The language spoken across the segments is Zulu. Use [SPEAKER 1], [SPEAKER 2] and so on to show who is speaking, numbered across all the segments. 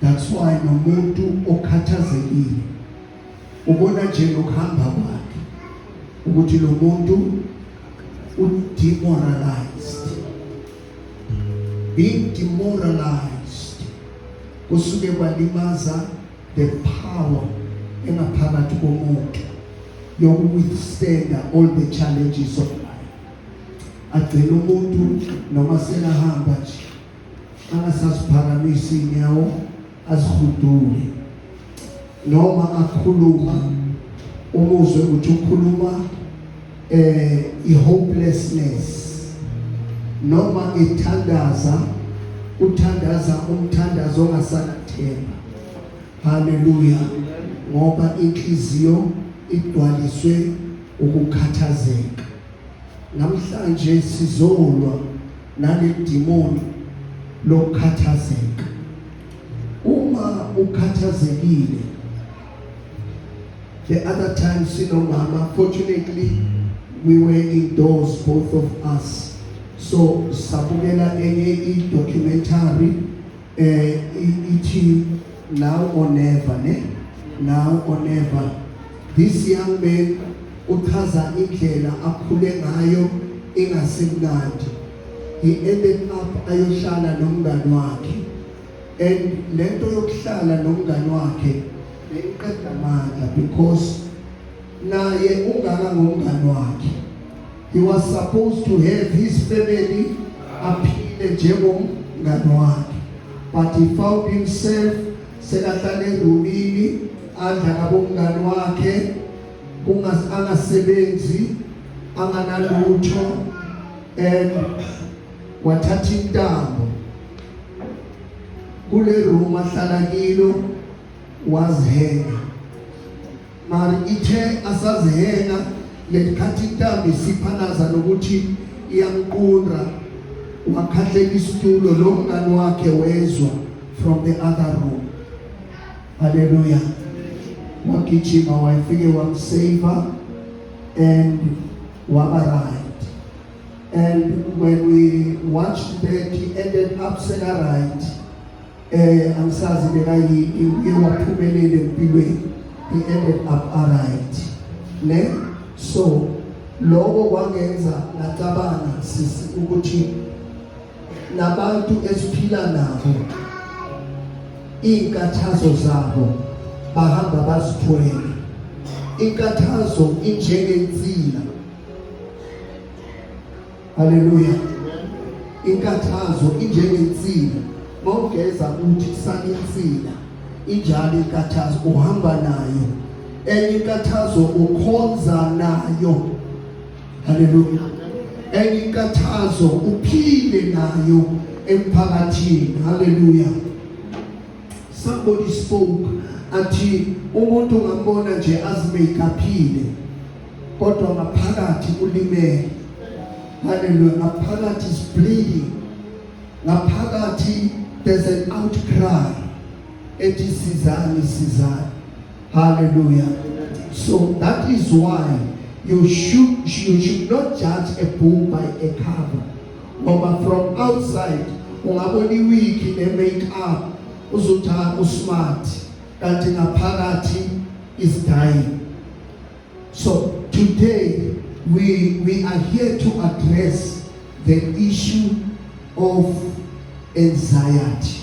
[SPEAKER 1] That's why nomuntu okhathazekile ubona nje ngokuhamba kwakhe ukuthi lo muntu udemoralized being demoralized kusuke kwalimaza the power engaphakathi komuntu yokuwithstanda all the challenges of life agcina umuntu noma selahamba nje angasaziphakamisi inyawo azihudule noma akhuluma umuzwe ukuthi ukhuluma eh ihopelessness noma ithandaza uthandaza umthandazo ongasanathemba haleluya ngoba inhliziyo igcwaliswe ukukhathazeka Namhlanje sizolwa naledimoni lokukhathazeka. Uma ukhathazekile the other time sinomama fortunately we were indoors both of us so sabukela enye i-documentary eh ithi now or never ne now or never this young man uchaza indlela akhule ngayo ingasemnandi he ended up ayohlala nomngani wakhe and lento yokuhlala nomngani wakhe beyiqeda amandla because naye ungaka ngomngane wakhe he was supposed to have his family aphile njengomngane wakhe but he found himself sekahlale erumini adla kabomngane wakhe kungasebenzi anganalutho and wathatha intambo kule room ahlala kilo wazihela Mari ithe asazihena lesikhathi intambi siphanaza nokuthi iyamqunra wakhahleka isitulo lo mngani wakhe wezwa from the other room haleluya wagijima wayefike wamsave and waba right and when we watched that he ended up seka right Eh angisazi bekayini uye waphumelele empilweni. He ended up alright. Ne? So lokho kwangenza ngacabanga sisi ukuthi nabantu esiphila nabo inkathazo zabo bahamba bazithwele inkathazo injengensila Haleluya. Inkathazo injengensila. Mawugeza uthi kusani insila. Injalo inkathazo uhamba nayo. Enye inkathazo ukhonza nayo. Haleluya. Enye inkathazo uphile nayo emphakathini. Haleluya. Somebody spoke athi umuntu ngambona nje azimekaphile kodwa ngaphakathi ulimele haleluya ngaphakathi is bleeding ngaphakathi there's an outcry ethi sizani sizani haleluya so that is why you should you should not judge a book by a cover ngoba from outside ungabona iwiki ne make up uzothi usmart kanti ngaphakathi is dying So today we, we are here to address the issue of anxiety.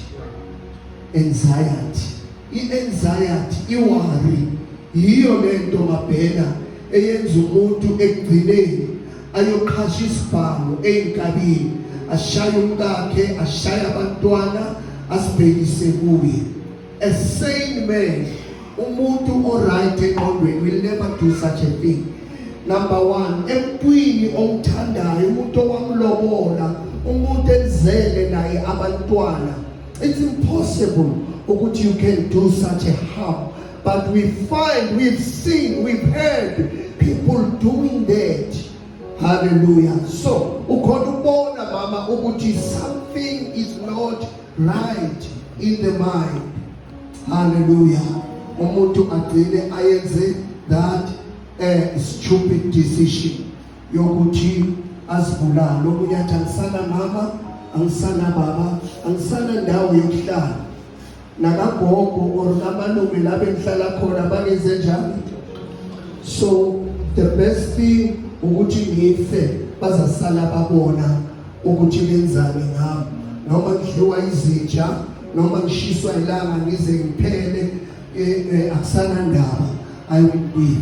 [SPEAKER 1] Anxiety. I-anxiety, iwari, yiyo le nto mabhena eyenza umuntu ekugcineni ayoqhasha isibhamu ey'nkabini ashaye umkakhe ashaye abantwana asibhekise kuye A sane man, umuntu oright engqondweni will never do such a thing. Number one, emntwini omthandayo, umuntu owamlobola, umuntu enzele naye abantwana. It's impossible ukuthi you can do such a harm. But we find, we've seen, we've heard people doing that. Hallelujah. So, ukhona ubona mama ukuthi something is not right in the mind haleluya umuntu agcine ayenze that a stupid decision yokuthi azibulale omunye athi angisana mama angisana baba angisana ndawo yokuhlala nakagogo or kamalume labe ngihlala khona bakenze njani so the best thing ukuthi ngife bazasala babona ukuthi benzani ngami noma ngidliwa izinja noma ngishiswa ilanga ngize ngiphele eh, eh, akusanandaba i will be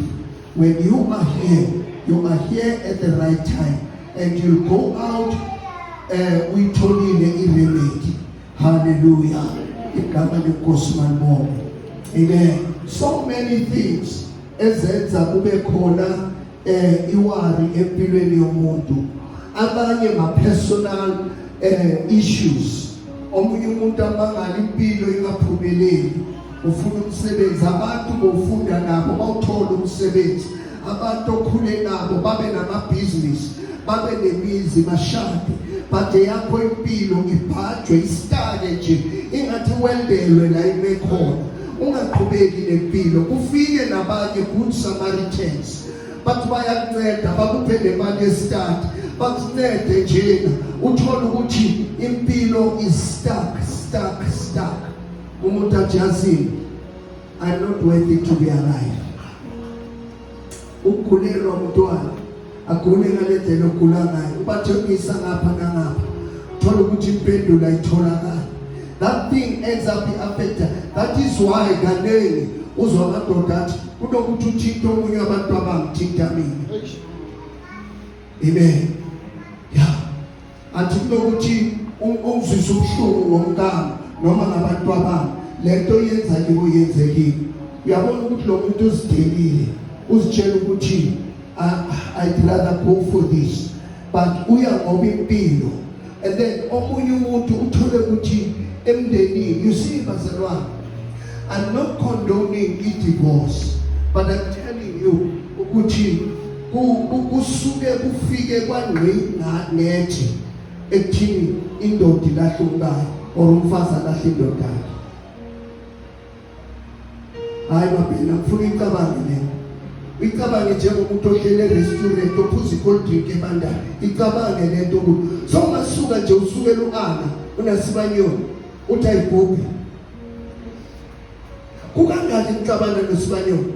[SPEAKER 1] when you are here you are here at the right time and you go out uh, uyitholile iremedi haleluya igama lenkosi malibonge amen so many things ezenza kube khona eh iwari empilweni yomuntu abanye ma personal eh issues omunye umuntu amangala impilo ingaphumeleli ufuna umsebenzi abantu bofunda nabo bawuthola umsebenzi abantu okhule nabo babe namabhizinisi babe nemizi bashade bade yakho impilo ibhajwe isitake nje ingathi wendelwe la imekhona ungaqhubeki nempilo kufike nabanye good samaritans bathi bayakunceda bakuphe nemali yesitati bakuncede njena uthole ukuthi impilo is stuck stuck stuck umuntu ajazini i'm not worthy to be alive Ukugulelwa umntwana agule ngale ndlela ogula ngayo ubathembisa ngapha nangapha thola ukuthi impendulo ayitholakali that thing ends up i-affecta that is why kaningi uzwa amadoda athi kunokuthi uthinte omunye abantu abangithinta mina amen athi kunokuthi ungizwise ubuhlungu ngomkami noma ngabantu abami le nto yenza kibo yenzekile uyabona ukuthi lo muntu uzidelile uzitshela ukuthi ah, i'd rather go for this but uya ngoba impilo and then omunye umuntu uthole ukuthi emndenini you see bazalwane i'm not condoning i-divorce but i'm telling you ukuthi kusuke kufike kwangqingqanetshe ekuthini indoda ilahle umkayo or umfazi alahle indoda yakhe hayi babhena ngifuna icabange lena icabange njengomuntu ohlele restaurant ophuza i-cold drink ebandayo icabange le nto ukuthi so ungasuka nje usukela u-ana unasibanyoni uthi ayibhubhi kukangaki nixabana noSibanyoni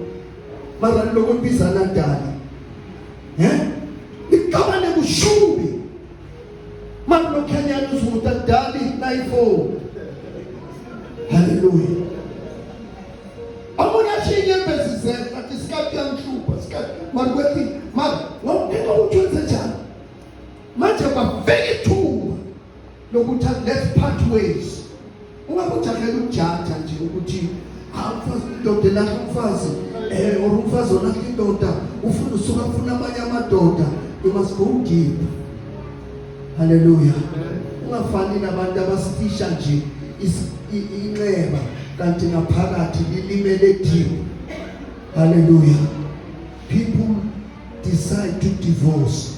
[SPEAKER 1] mara lokubizana dala he nixabane kushubi mara lokhanyana uzukuta dali nayifo haleluya amunye ashinye imbezi zethu athi sikati yanhlupha sikati mara kwethi mara ngokuthetha ukuthi wenze njani manje bafika ithuba lokuthi let's part ways uma kujahela ukujaja nje ukuthi awufazi indoda elahla umfazi eh or umfazi olahla indoda ufuna usuka ufuna amanye amadoda you must go deep haleluya ungafani nabantu abasitisha nje inxeba kanti ngaphakathi lilimele deep haleluya people decide to divorce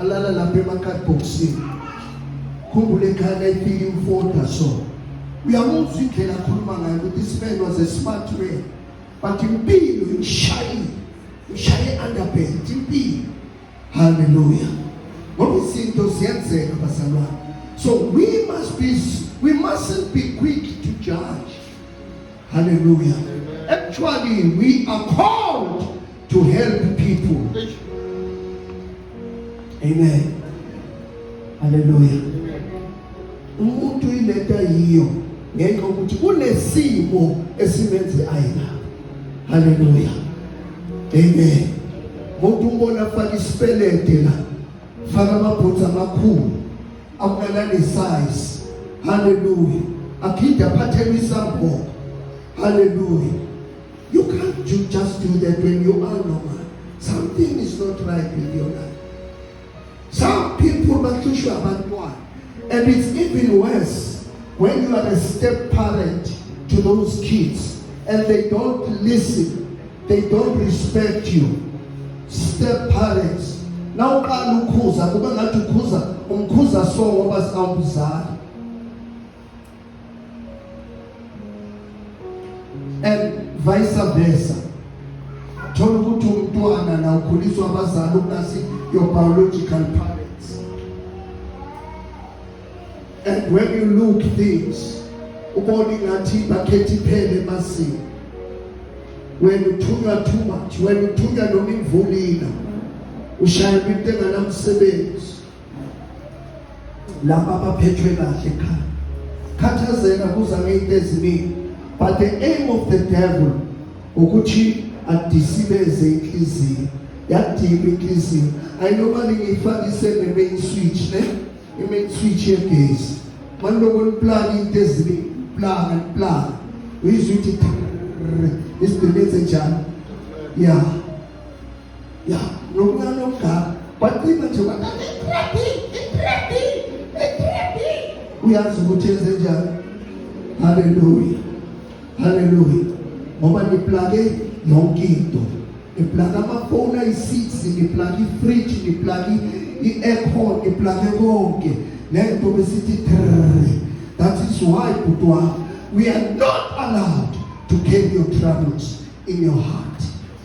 [SPEAKER 1] alala lapha emakhadibhokisini khumbula ekhaya layifika imfoda so uyamuzwa indlela akhuluma ngayo ukuthi isibenwa ze-smart man but impilo imshaye imshaye underbent impilo haleluya ngoba izinto ziyenzeka bazalwane so we must be we mustn't be quick to judge haleluya actually we are called to help people. Amen. Hallelujah. Umuntu ilento ayiyo ngenxa ukuthi kunesimo esimenze ayina. Hallelujah. Amen. Umuntu umbona afaka isipelede la. Faka amabhutsa amakhulu. Akunalani size. Hallelujah. Aphinde aphathelwe isamboko. Hallelujah. You can't do, just do that when you are normal. Something is not right with your life. Some people bahlushwa abantwana and it's even worse when you are a step parent to those kids and they don't listen, they don't respect you. Step parents na uqala ukhuza kube ngathi ukhuza umkhuza so ngoba sikawumzali and vice versa. Thola ukuthi umntwana na ukhuliswa abazali ukungasi your biological parents. And when you look things, ubona ingathi bakhetha iphele emasini. When uthunywa too much, when uthunywa noma imvulina, ushayelwa into enganamsebenzi. laba abaphethwe kahle ekhaya khathazeka kuza ngeyinto eziningi but the aim of the devil ukuthi adisibeze inhliziyo yadima inhliziyo ayinobani ngiyifakise ne-main switch ne i-main switch yegesi maniloko niplana into eziningi plana plana uyizwa ukuthi isideleze njani ya yeah. ya nomncane omdala bacima nje uyazi ukuthi enze njani haleluya haleluya ngoba niplake yonke into niplake amafoni ayi-six niplake ifridge niplake i-aircon niplake konke nento besithi trrr that is why bhuti wami we are not allowed to carry your troubles in your heart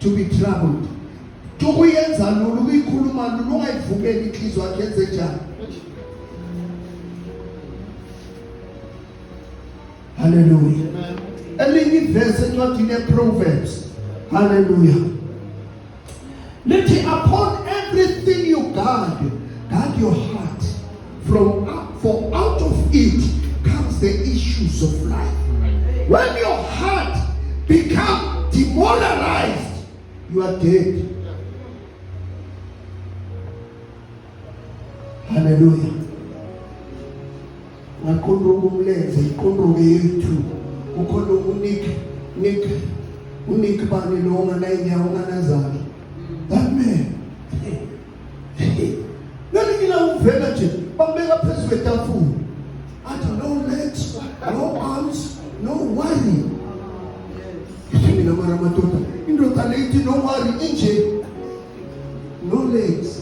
[SPEAKER 1] to be troubled tukuyenza lula ukuyikhuluma lula ungayivumeli inhliziyo yakhe yenze njani haleluya elinye ivesi encwadini yeproverbs haleluya lithi upon everything you guard guard your heart From for out of it comes the issues of life. When your heart become demoralized, you are dead. Hallelujah. Ngakhondoka umlenze, ikhondoke yethu. Ukhona unik nik unik bani lo ngana inyawo ngana zami. Nalikila uvela nje bambeka phezu kwetafula. Athi no legs, no arms, no worry. Mina mara madoda indoda leyithi no worry inje. No legs,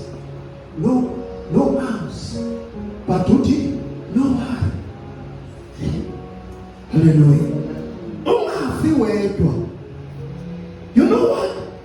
[SPEAKER 1] no no arms. But uthi no worry. Hallelujah.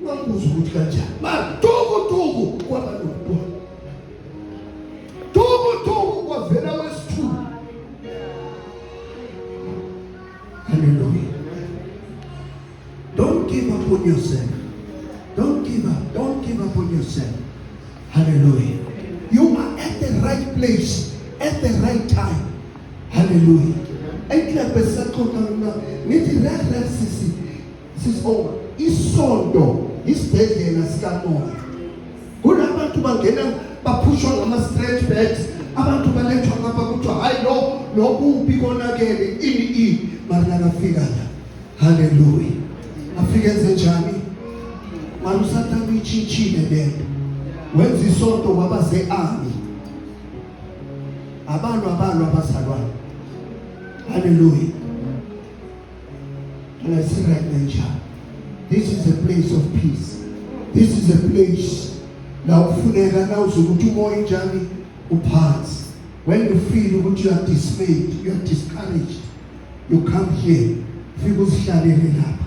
[SPEAKER 1] Ungambuza ukuthi kanjani. Maduku duku kwaba nokubona. Duku duku kwavela wesithulu. Hallelujah. Don't give up on yourself. Don't give up. Don't give up on yourself. Hallelujah. You are at the right place at the right time. Hallelujah. Ekla besakhona ngithi la la sisi Sis oh, isonto isibhedlela sikamoya. Kunabantu bangena baphushwa ngama stretch bags, abantu balethwa ngapha kuthiwa hayi lo lokubi konakele ini i mara nakafika la. Hallelujah. Afike enze njani? Mara usathana uyitshintshile lento. Wenza isonto waba ze-army. Abantu abantu abazalwane. Hallelujah. Let's see right nature. This is a place of peace. This is a place la ufuneka na uzokuthi umoya njani uphansi. When you feel ukuthi you are dismayed, you are discouraged, you come here. Fika uzihlalele lapha.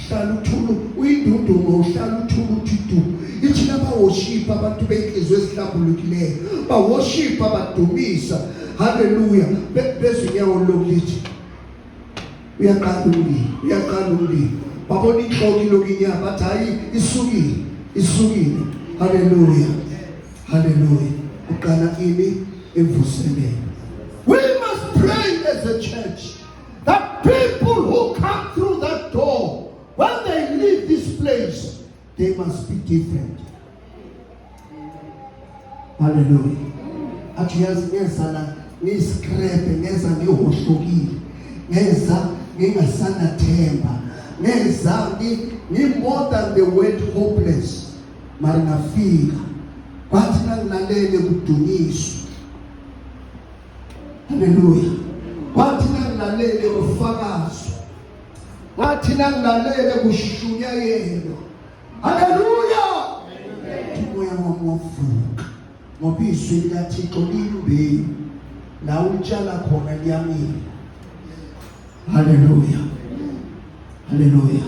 [SPEAKER 1] Hlala uthulu uyindunduma uhlala uthulu uthi du. Ithi laba worship abantu benhlizwe ezihlambulukileyo. Ba worship abadumisa. Hallelujah. Bezinyawo lokulithi uyaqala umlilo uyaqala umlilo babona inhloko iloku inyama bathi hayi isukile isukile haleluya haleluya uqala ini evuseleni we must pray as a church that people who come through that door when they leave this place they must be different haleluya athi yazi ngeza la ngiskrebe ngeza ngihohlokile ngeza ngingasanathemba ngeza ngi more than the word hopeless mara ngafika kwathi nangilalele kudunyiswa haleluya kwathi nangilalele kufakazwa Ngathi nangilalele kushunyayelwa. Haleluya! Umoya wami wavuka ngoba izwi likaThixo liyimbewu la utshala khona liyamila. Haleluya. Haleluya.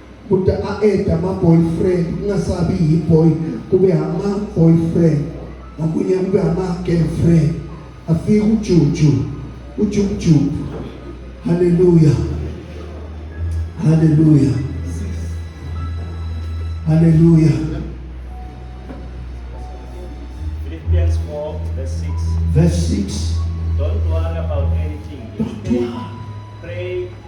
[SPEAKER 1] kude a-eda ama-boyfriend kungasabi yi-boy kube ama-boyfriend ngokunye kube ama-girlfriend afike ujuju ujubujubu haleluya haleluya haleluya Philippians 4 verse 6 verse
[SPEAKER 2] 6 don't worry about anything don't worry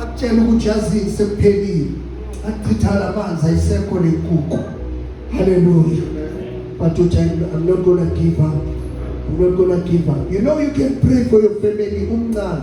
[SPEAKER 1] akutshela ukuthi yazini sekuphelile akuchithana amanzi ayisekho lenkuku haleluya but uthi i'm not gonna give up i'm not gonna give up you know you can pray for your family umncane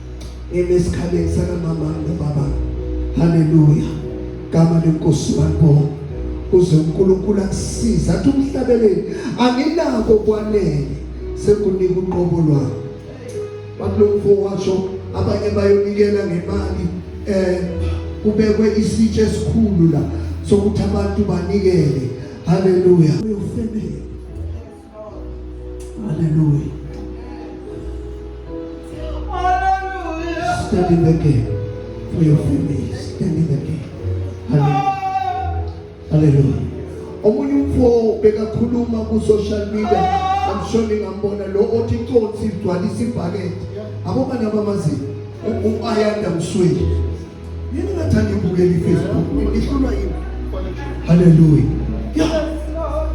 [SPEAKER 1] ngime esikhaleni sakamama nobaba haleluya gama lenkosi balibona uze uNkulunkulu akusize athi umhlabeleni anginako kwanele sekunika uqobo lwami bakulomfo washo abanye bayonikela ngemali eh kubekwe isitshe esikhulu la sokuthi abantu banikele haleluya uyofebela Hallelujah. Hallelujah. Stand in the gap for your family. Stand in the gap. Hallelujah. Hallelujah. Omunye umfo bekakhuluma ku social media amshoni ngambona lo othi inkonsi igcwalisa ibhakede. Abobani abamazi u-Ayanda Msweli. Yini ngathanda ibukela iFacebook noma ihlulwa yini? Haleluya. Ya.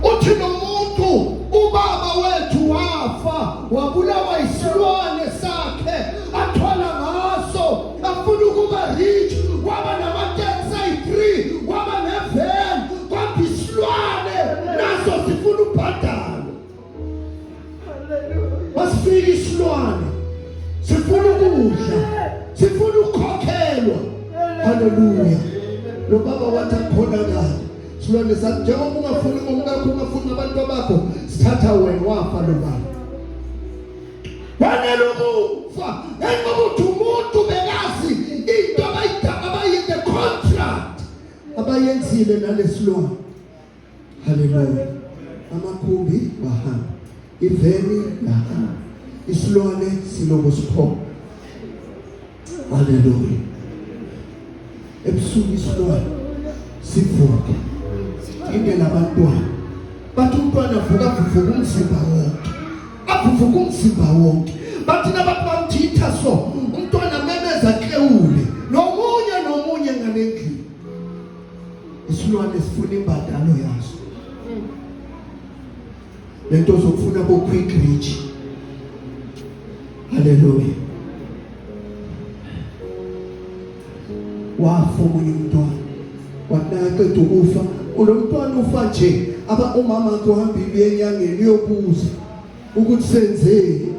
[SPEAKER 1] Uthi nomuntu ubaba wethu wafa wabulawa isilwane sakhe athola ngaso afuna ukuba rich waba nama taxi 3 waba nevan kwathi isilwane naso sifuna ubhadalo. masifika isilwane sifuna ukudla sifuna ukukhokhelwa haleluya lo baba wathi akhonakala silwane sathi njengoba ungafuni ngomkakho ungafuni nabantu abakho sithatha wena wafa lo baba wanele ukufa engokuthi umuntu bekazi into abayidaba abayinde contract abayenzile nalesilwane Haleluya. Amakhumbi bahamba. Iveni yahamba. Isilwane silobo siphoko. Haleluya. Ebusuku isilwane sivuke. Indela abantwana. Bathi umntwana vuka vuka umzimba wonke. Avuka umzimba wonke. Bathi nabantu bamthitha so umntwana memeza klewule. Nomunye nomunye ngalendlela. isilwane sifuna imbadalo yaso lento zokufuna ko quick reach haleluya wafa omunye umntwana wakunaqeda ukufa ulo mntwana ufa nje aba umama wakhe uhambile uye enyangeni uyobuza ukuthi senzeni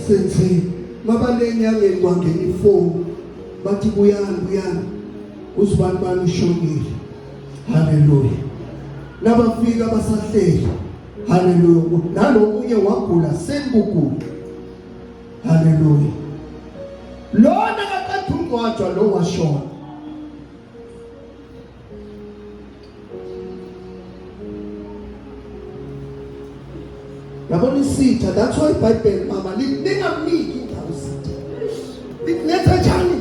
[SPEAKER 1] senzeni mabanenyangeni kwangena ifoni bathi buyani buyani uzibani bani ushonile haleluya nabafika basahleli haleluya nalokunye wagula sekugula haleluya lona kaqeda ungcwatshwa lo washona yabona isitha that's why ibhayibheli mama ningamniki indawo isitha nikunetha njani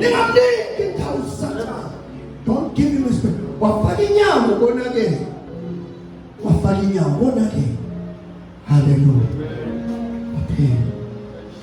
[SPEAKER 1] ningamniki indawo sathane don't give him respect wafaka inyama ubonakele wafaka inyama ubonakele haleluya aphela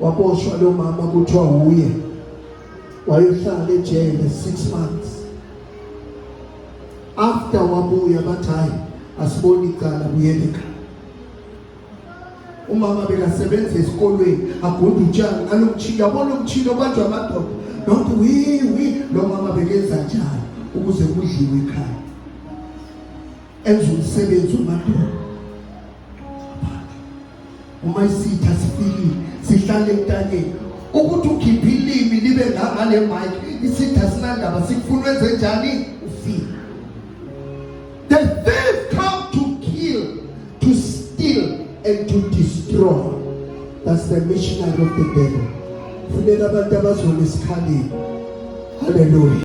[SPEAKER 1] waboshwa lo mama kuthiwa wuye wayohlala ejele six months after wabuya bathi hayi asiboni icala buyele ekhaya umama bekasebenza esikolweni agunda utshani ngalo mtshini yabona umtshini obanjwa amadoda nonke wiwi lo mama bekenza njani ukuze kudliwe ekhaya enza umsebenzi umadoda uma isitha sifikile sihlale entanyeni ukuthi ukhiphe ilimi libe ngangale mike isitha sinandaba sikufuna wenze njani ufile the thief come to kill to steal and to destroy that's the missionary of the devil funeka abantu abazona esikhaleni haleluya